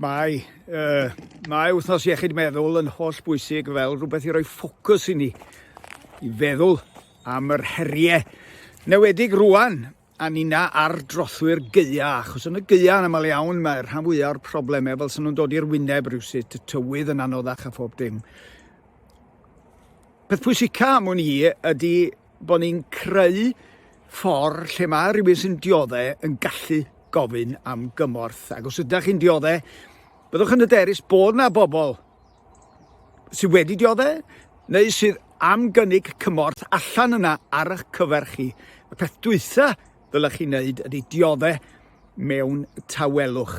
Mae, uh, mae wythnos iechyd meddwl yn holl bwysig fel rhywbeth i roi ffocws i ni i feddwl am yr heriau newedig rwan a nina ar drothwy'r geia, achos yn y geia yn aml iawn mae'r rhan fwyaf o'r problemau fel sy'n nhw'n dod i'r wyneb rhywsut, y tywydd yn anoddach a phob dim. Peth pwysica am hwn i ydy Bod ni'n creu ffordd lle mae rhywun sy'n dioddau yn gallu gofyn am gymorth. Ac os ydych chi'n dioddau, byddwch yn hyderus bod yna bobl sydd wedi dioddau neu sydd am gynnig cymorth allan yna ar eich cyfer chi. Y peth dwytha ddylech chi wneud ydy dioddau mewn tawelwch.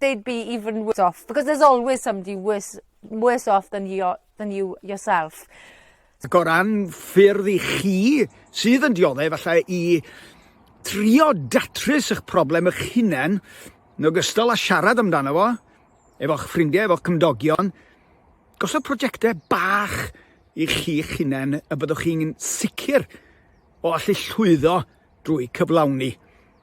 they'd be even worse off because there's always somebody worse worse off than you than you yourself. Ac o ran ffyrdd i chi sydd yn dioddef efallai i trio datrys eich problem eich hunain yn ogystal â siarad amdano fo efo'ch ffrindiau, efo'ch cymdogion, gosod prosiectau bach i chi'ch hunain y byddwch chi'n sicr o allu llwyddo drwy cyflawni.